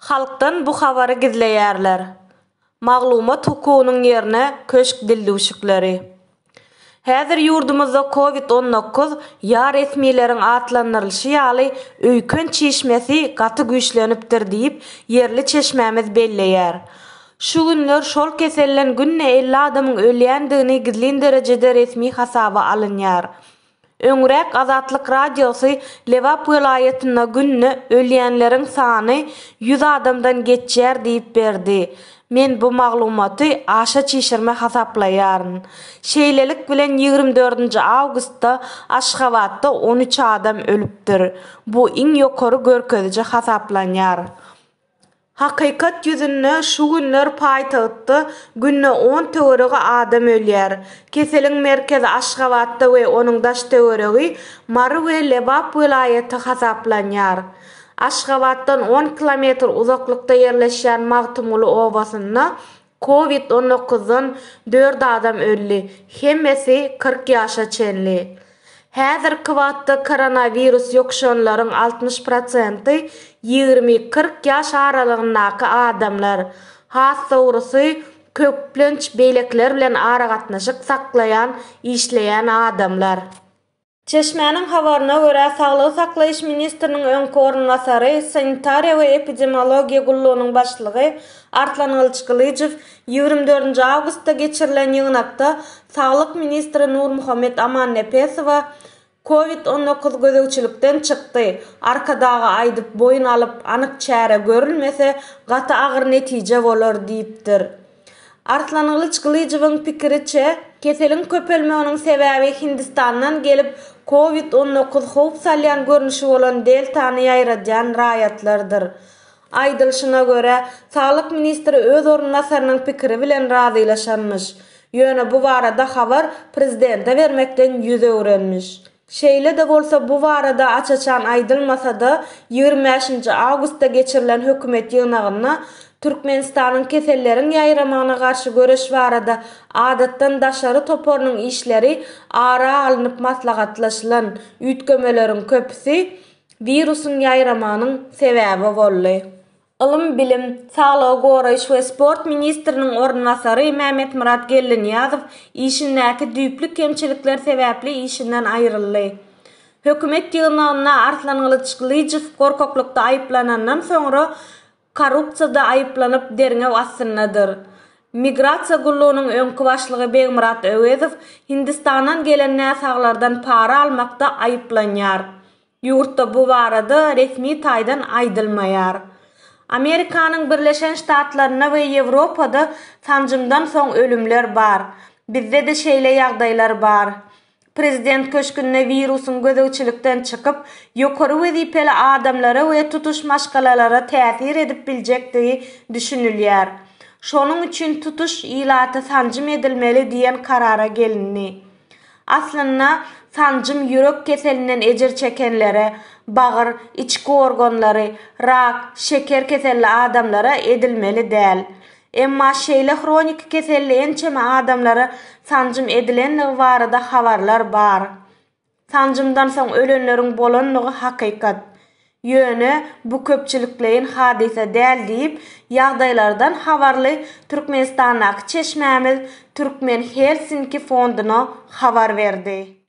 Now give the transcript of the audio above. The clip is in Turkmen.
Halkdan bu habary gizleýärler. Maglumat hukugynyň ýerine köşk dildüwşükleri. Häzir ýurdumyzda covid on dokuz ýa resmileriň atlandyrylyşy ýaly öýken çişmesi gaty güýçlenipdir diýip, ýerli çeşmämiz belleýär. Şu günler şol keselden günde elli adamyň ölýändigini gizlin derejede resmi hasaba alynýar. Öňräk Azatlyk Radiosy Lebap welaýatynda günde ölýänleriň sany ýüz adamdan geçýär diýip berdi. Men bu maglumaty aşa çişirme hasaplaýaryn. Şeýlelik bilen ýigrimi dördünji awgustda Aşgabatda on üç adam ölüpdir. Bu iň ýokary görkeziji hasaplanýar. Hakykat ýüzünde şu günler paýtagtda günde on töweregi adam ölýär. Keseliň merkezi Aşgabatda we onuň daş-töweregi Mary we Lebap welaýaty hasaplanýar. Aşgabatdan on kilometr uzaklykda ýerleşýän Magtymguly obasynda Covid on dokuzdan dört adam öldi, hemmesi kyrk ýaşa çenli. Häzirki wagtda koronawirus ýokuşanlaryň altmyş prosenti ýigrimi-kyrk ýaş aralygyndaky adamlar, has dogrusy, köplenç beýlekiler bilen aragatnaşyk saklaýan işleýän adamlar. Çeşmäniň habaryna görä, saglygy saklaýyş ministriniň öňki orunbasary, Sanitariýa we epidemiologiýa gullugynyň başlygy Arslan Gylyçgylyjow ýigrimi dördünji awgustda geçirilen ýygnakda saglyk ministri Nurmuhammet Amannepesowa Covid on dokuz gözegçilikden çykdy, Arkadaga aýdyp boýun alyp anyk çäre görülmese gaty agyr netije bolar diýipdir. Arslangylyç Gylyjowyň pikiriçe, keseliň köpelmeginiň sebäbi Hindistandan gelip, Kowid on dokuz howp salýan görnüşi bolan deltany ýaýradýan raýatlardyr. Aýdylyşyna görä, saglyk ministri öz orunbasarynyň pikiri bilen razylaşanmyş. Ýöne bu barada habar prezidente bermekden ýüz öwrenmiş. Şeýle-de bolsa, bu barada aç-açan aýdylmasa-da, ýigrimi bäşinji awgustda geçirilen hökümet ýygnagynda Türkmenistanyň Keselleriň ýaýramagyna garşy göreş barada Adatdan daşary toparynyň işleri ara alnyp maslahatlaşylan üýtgemeleriň köpüsi wirusyň ýaýramagynyň sebäbi boldy. ylym-bilim, saglygy goraýyş we sport ministriniň orunbasary Mämmetmyrat Geldinyýazow işindäki düýpli kemçilikler sebäpli işinden aýryldy. Hökümet ýygnagynda Arslan Gylyçgylyjow gorkaklykda aýyplanandan soňra korrupsiýada aýyplanyp derňew astyndadyr. Migrasiýa gullugynyň öňki başlygy Begmyrat Öwezow Hindistandan gelen näsaglardan para almakda aýyplanýar. Ýurtda bu barada resmi taýdan aýdylmaýar. Amerikanyň Birleşen Ştatlarynda we Ýewropada sanjymdan soň ölümler bar. Bizde-de şeýle ýagdaýlar bar. Prezident köşgünde wirusyň gözegçilikden çykyp, ýokary wezipeli adamlara we tutuş maşgalalara täsir edip biljekdigi düşünilýär. Şonuň üçin tutuş ilaty sanjym edilmeli diýen karara gelindi. Aslynda, sanjym ýürek keselinden ejir çekenlere, bagyr, içki organlary, rak, şeker keselli adamlara edilmeli däl. Emma şeýle hroniki keselli ençeme adamlara sanjym edilendigi barada habarlar bar. Sanjymdan soň ölenleriň bolandygy hakykat. Ýöne bu köpçülikleýin hadysa däl diýip, ýagdaýlardan habarly Türkmenistandaky çeşmämiz Türkmen Helsinki fonduna habar berdi.